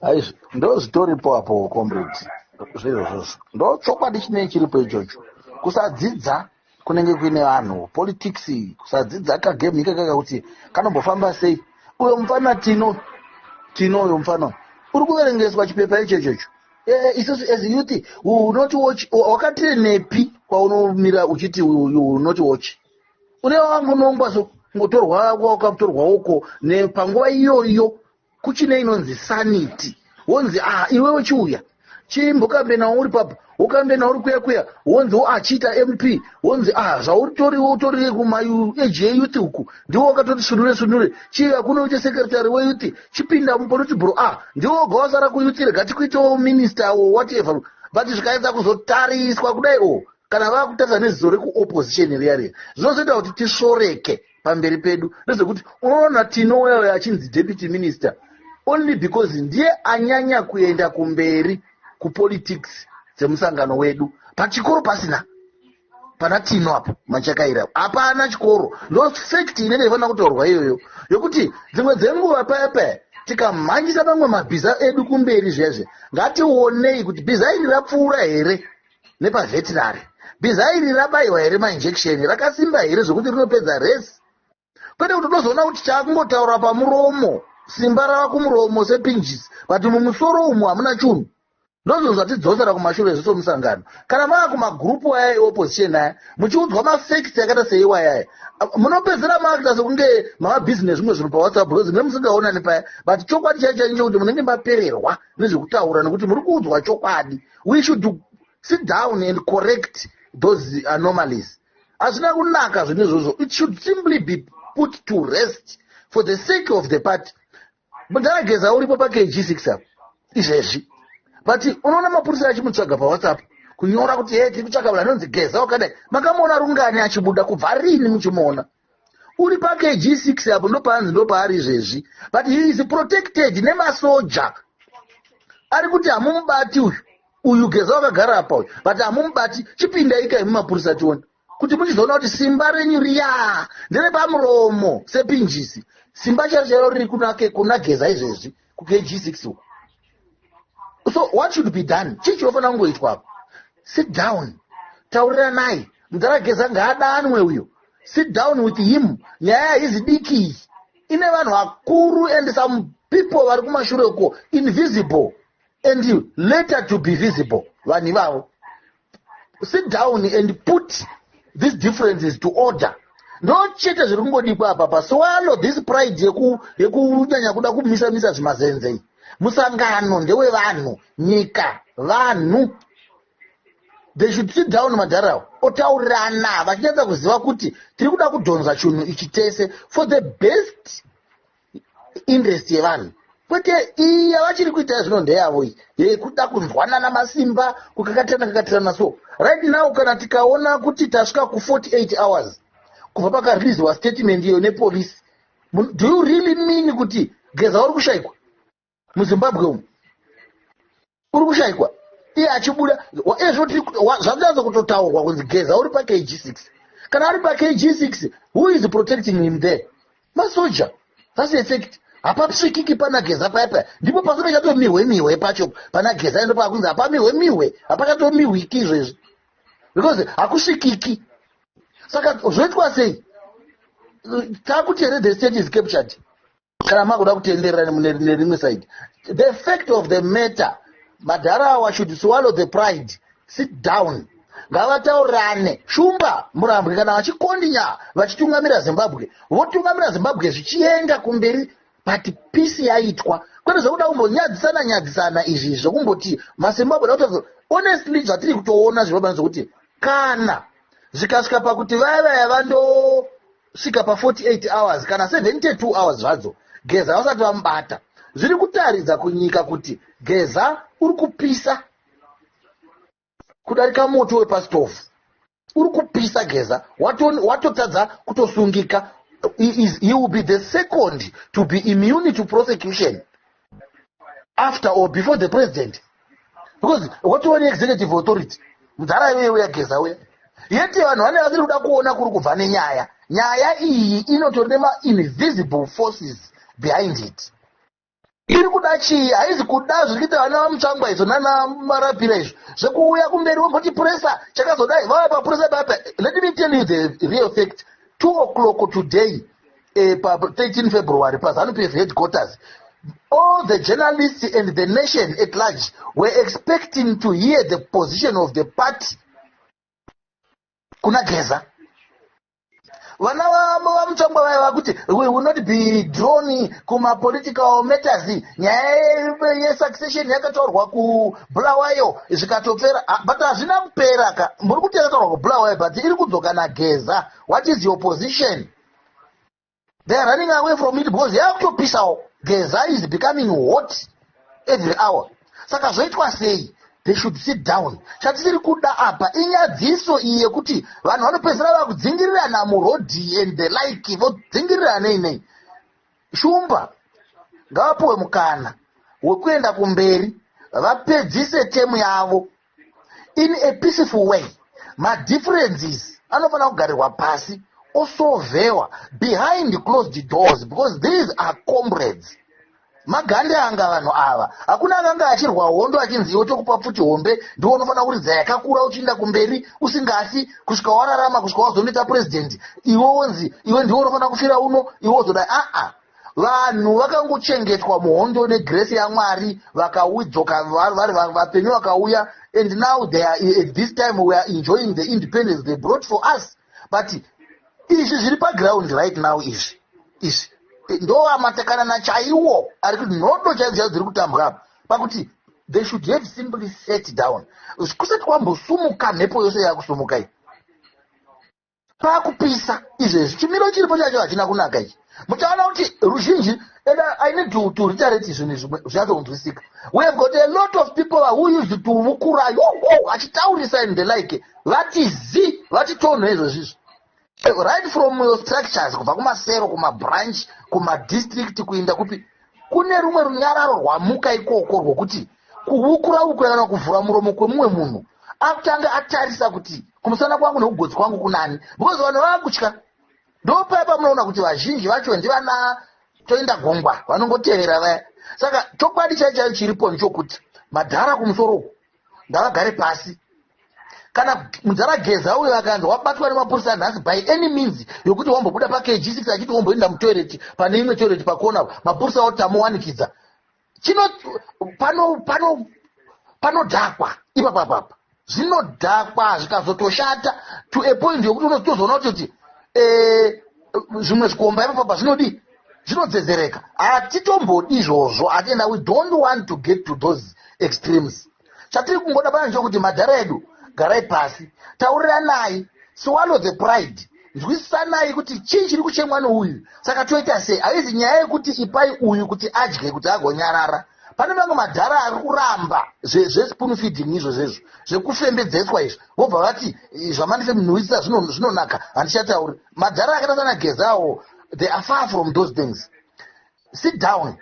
aizvo ndozvitoripo apo comrade zvirozvozvo ndo chokwadi chinei chiripo ichocho kusadzidza kunenge kuine vanhu politics kusadzidza kagame ikaka kakuti kanombofamba sei uyo mufana tino tino uyo mufana uri kuverengeswa chipepa icho ichocho eh, isusu as youth unoti watch wakatirenepi kwaunomira uchiti unoti watch une wamunongwa ngotorwa wakatorwa uko nepanguva iyoyo kuchine inonzi sanity wonzi a ah, iwewe chiuya chimbokambe nawo uri papa wokambe nawo uri kuya kuya wonzi achiita mp wonzi a ah, zvautori utori kumaage eyouth uku ndiwo wakatoti sunure sunure chiya kuno uite sekretary weyouth chipinda mupolitibro a ah, ndiwo woga wasara kuyouth rega tikuitewo minister or whatever but zvikaedza kuzotariswa kudai o oh, kana vakutadza neziso rekuopposition riya riya zvinozoita kuti tisvoreke pamberi pedu nezvekuti unoona tinoya uyo achinzi deputy minister only because ndiye anyanya kuenda kumberi kupolitics dzemusangano wedu pachikoro pasina pana tino apo machakaira hapana chikoro ndo fact inenge ifanira kutaurwa iyoyo yokuti dzimwe dzenguva paya paya tikamhanyisa mamwe mabhiza edu kumberi zvezve ngatiwonei kuti bhiza iri rapfuura here nepavetinary bhiza iri rabaiwa here mainjection rakasimba here zvekuti rinopedza resi kwete kuti unozoona kuti chaakungotaura pamuromo simba rava kumuromo sepinjis but mumusoro umu hamuna chunhu ndozvo zvatidzosera kumashure zviso musangano kana mava kumagurupu aya eopposition aya muchiudzwa mafacts yakaita seiwayaya munopedzera maakita sekunge mavabhizi nezvimwe zvinhu pawhatsapp because mune musingaonani paya but chokwadi chaicho chaicho kuti munenge mapererwa nezvekutaura nekuti muri kuudzwa chokwadi we should sit down and correct those anomalies hazvina kunaka zvinhu izvozvo it should simply be put to rest for the sake of the party mudhara geza uripo pakg six apo izvezvi but unoona mapurisa achimutsvaga pawhatsapp kunyora kuti he tiri kutsvaga vanhu anonzi geza wakadai makamuona rungani achibuda kubva rini muchimuona uri pakg 6 apo ndopaanzi ndopaari izvezvi but he is protected nemasoja ari kuti hamumubati uyu uyu geza wakagara apa uyu but hamumubati chipindaika imi mapurisa tione kuti muchizoona kuti simba renyu riya nderepamuromo sepinjisi simba chero chero riri kunake kuna geza izvezvi kukg6 uko so what should be done chii chinofanira kungoitwa apo sit down tauriranai mudhara geza ngaadanwe uyo sit down with him nyaya haizi diki iyi ine vanhu vakuru and some people vari kumashure uko invisible and later to be visible vanhu ivavo sit down and put these differences to order ndo chete zviri kungodikwa apa pa swalo this pride yekunyanya kuda kumisa misa zvimazenzei musangano ndewevanhu nyika vanhu they should sit down madharawo otaurirana vachinyatsa kuziva kuti tiri kuda kudhonza chunhu ichi tese for the best interest yevanhu kwete iyi yavachiri kuita zvino ndeyavo iyi yekuda kunzwanana masimba kukakatirana kakatirana so right now kana tikaona kuti tasvika ku48 hours kubva pakariliziwa statement iyo nepolice do you really mean kuti geza uri kushaikwa muzimbabwe umu uri kushaikwa iye achibuda ezvozvanyanza kutotaurwa kunzi geza uri pakg six kana ari pakg six who is protecting him there masoja thats effect hapapsvikiki pana geza paya paya ndipo pasi pachatomihwe mihwe pacho pana geza endo paakunzi hapamihwe mihwe hapakatomihwiki izvezvi because hakusvikiki saka zvoitwa sei takuti here the state is captured kana makuda kutenderera nerimwe side the fact of the matter madhara awa should swallow the pride sit down ngavataurirane shumba murambwe kana vachikondinya vachitungamira zimbabwe votungamira zimbabwe zvichienda kumberi but peace yaitwa kwete zvekuda kumbonyadzisana nyadzisana izvi zvekumboti mazimbabwe da kutaura honestly zvatiri kutoona zvirobanzi zvekuti kana zvikasvika pakuti vaya vaya vando svika pa 48 hours kana 72 hours zvadzo geza vasati vamubata zviri kutaridza kunyika kuti geza uri kupisa kudarika moto wepasitofu uri kupisa geza watotadza wato kutosungika he, is, he will be the second to be immune to prosecution after or before the president because watiwa neexecutive authority mudhara iyoye uya geza uya yeti vanhu vane vasiri kuda kuona kuri kubva nenyaya nyaya iyi inotori nemainvisible forces behind it iri kuda chii haizi kuda zviri kuita vana vamutsvangwa izvo nana marapira izvo zvekuuya kumberi vomboti puresa chakazodai vava papuresa papa let me tell you the real fact two o'clock today eh, pa 13 february pazanu pf headquarters all the journalists and the nation at large were expecting to hear the position of the party kuna geza vana vamutsvangwa vaya vakuti we will not be drone kumapolitical matters nyaya yesuccession yakataurwa kubulawayo zvikatopera ah, but hazvina kupera ka muri kuti yakataurwa kubulawayo but iri kudzoka nageza what is your position they are running away from it because yakutopisawo geza is becoming hot every hour saka zvoitwa sei they should sit down chatisiri kuda apa inyadziso iyi yekuti vanhu vanopedzisira vakudzingirirana murodhi and the like vodzingirirana nei nei shumba ngavapuwe mukana wekuenda kumberi vapedzise temu yavo in a peaceful way madifferences anofanira kugarirwa pasi osovewa behind closed doors because these are comrades magande anga vanhu ava hakuna akanga achirwa hondo achinzi iwe tokupa pfuti hombe ndiwo unofanira kuridza yakakura uchiinda kumberi usingasi kusvika wararama kusvika wazonoita purezidendi iwe wonzi iwe ndiwo unofanira kufira uno iwe wozodai aa ah, ah. vanhu vakangochengetwa muhondo negrace yamwari vakaudzoka vari vapenyu vakauya and now they are at this time we are enjoying the independence they brought for us but izvi zviri paground right now izvi izvi ndoamatakanana chaiwo ari kuti nhodo chaidzo chaidzo dziri kutambwa apa pakuti they should have simply set down kusati kwambosumuka mhepo yose yakusumukai pakupisa izvezvi chimiro chiripo chacho hachina kunaka ichi muchaona kuti ruzhinji and i need to, to reiterate zvinhu zvimwe zvichatonzwisika we have got a lot of people who used to vukurayo achitaurisa and the like vati zi vati tonho izvo zvizvo eh, right from your structures kubva kumasero kumabranch kumadistrict kuinda kupi kune rumwe runyararo rwamuka ikoko rwokuti kuhukura uku kana kuvhura muromo kwemumwe munhu akutanga atarisa kuti kumusana kwangu nekugotsi kwangu kunani because vanhu vakutya ndopaya pamunoona kuti vazhinji vacho ndivana toenda gungwa vanongotevera vaya saka chokwadi chai chaiyo chiripo ndechokuti madhara kumusoro uku ngavagare pasi kana mudhara geza uyo akanzi wabatwa nemapurisa nhasi by any means yokuti wambobuda pakg six achiti womboenda mutoireti pane imwe toireti pakona mapurisa otama wanikidza chino pano pano panodhakwa ipapa papa zvinodhakwa zvikazotoshata to a point yokuti unotozoona kuti kuti eh, zvimwe zvikomba ipapa papa zvinodii zvinodzedzereka hatitombodi izvozvo atienda we don't want to get to those extremes chatiri kungoda pana nchokuti madhara edu garai pasi tauriranai swallow the pride nzwisisanai kuti chii chiri kuchemwa nouyu saka toita sei haizi nyaya yekuti ipai uyu kuti adye kuti agonyarara pane mamwe madhara ari kuramba zvespoon feeding izvo zvezvo zvekufembedzeswa izvo vobva vati zvamandise munhuwisisa zvinonaka handichatauri madhara akaita sana gezawo they are far from those things sit down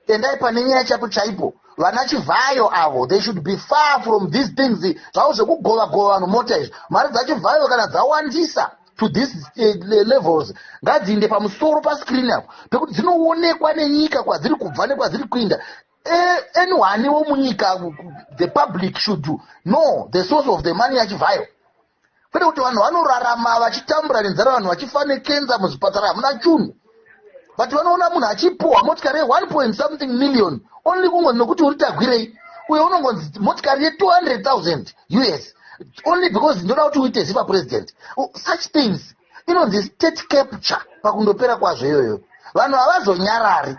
endai pane nyaya chapo chaipo vana chivhayo avo they should be far from these things zvavo zvekugova gova vanhu mota izvi mari dzachivhayo kana dzawandisa to this eh, levels ngadziinde pamusoro pascreen apo pekuti dzinoonekwa nenyika kwadziri kubva nekwadziri kuinda eh, anyone wo munyika the public should know the source of the money yachivhayo kwete kuti vanhu vanorarama vachitambura nenzara vanhu vachifa nekenza muzvipatara hamuna chunhu but vanoona munhu achipuhwa motikari ye1 point something million only kungonzi nokuti uri tagwirei uye unongonzi motikari ye200 000 us only because ndoda kuti uite ziva president such things inonzi state capture pakundopera kwazvo iyoyo vanhu havazonyarari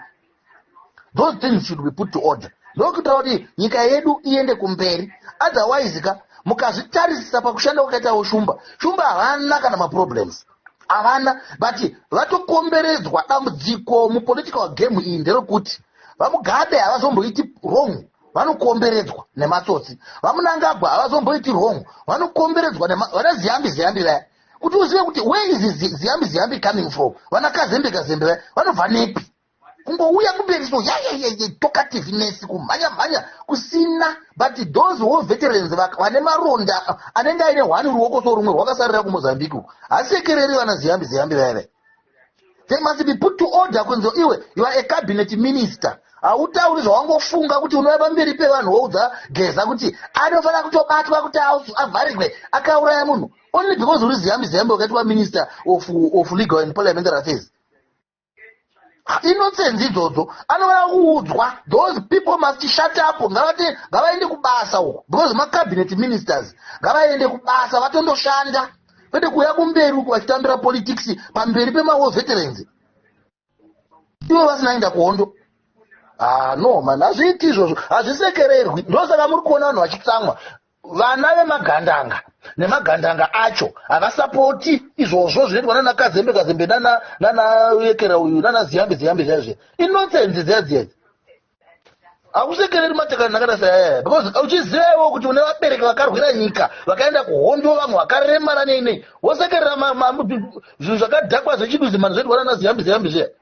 those things should be put to order ndokuita kuti nyika yedu iende kumberi otherwise ka mukazvitarisisa pakushanda kwakaitawo shumba shumba havana kana maproblems havana but vatokomberedzwa dambudziko mupolitical game iyi nderokuti vamugabe havazomboiti wrong vanokomberedzwa nematsotsi vamunangagwa havazomboiti wrong vanokomberedzwa vana ziyambi ziyambi vaya kuti uzive kuti where is ziyambi ziyambi coming from vana kazembe kazembe vaya vanobva nepi kungouya kumberi so yayayaya tokativeness kumhanya mhanya kusina but those wo veterans vane maronda anenge aine hwani ruoko so rumwe rwakasarira kumozambique uku hasekereri vana ziyambi ziyambi vaive they must be put to order kunzi iwe you are a cabinet minister hautauri zvawangofunga kuti unova pamberi pevanhu woudza geza kuti anofanira kutobatwa kuti avharigwe akauraya munhu only because uri ziyambi ziyambi wakaitwa minister of, of legal and parliamentary affairs innocence idzodzo anofanira kuudzwa those people must shut up ngavati ngavaende kubasa uko because macabinet ministers ngavaende kubasa vatondoshanda kwete kuuya kumberi uko vachitambira politics pamberi pemawar veterans ivo vasina enda kuhondo ah, no man hazviiti izvozvo hazvisekererwi ndosaka muri kuona vanhu vachitsamwa vana vemagandanga nemagandanga acho havasapoti izvozvo zvinoitwa nana kazembe kazembe nana nana yekera uyu nana ziyambe ziyambe zvaizve inonsense dziyadziyaidzi hakusekereri matakana akada sayaya because uchizivawo kuti une vabereki vakarwira nyika vakaenda kuhondo vamwe vakaremara nei nei wosekerera zvinhu zvakadhakwa zvechiduzimani zvoitwa nana ziyambe ziyambe zviya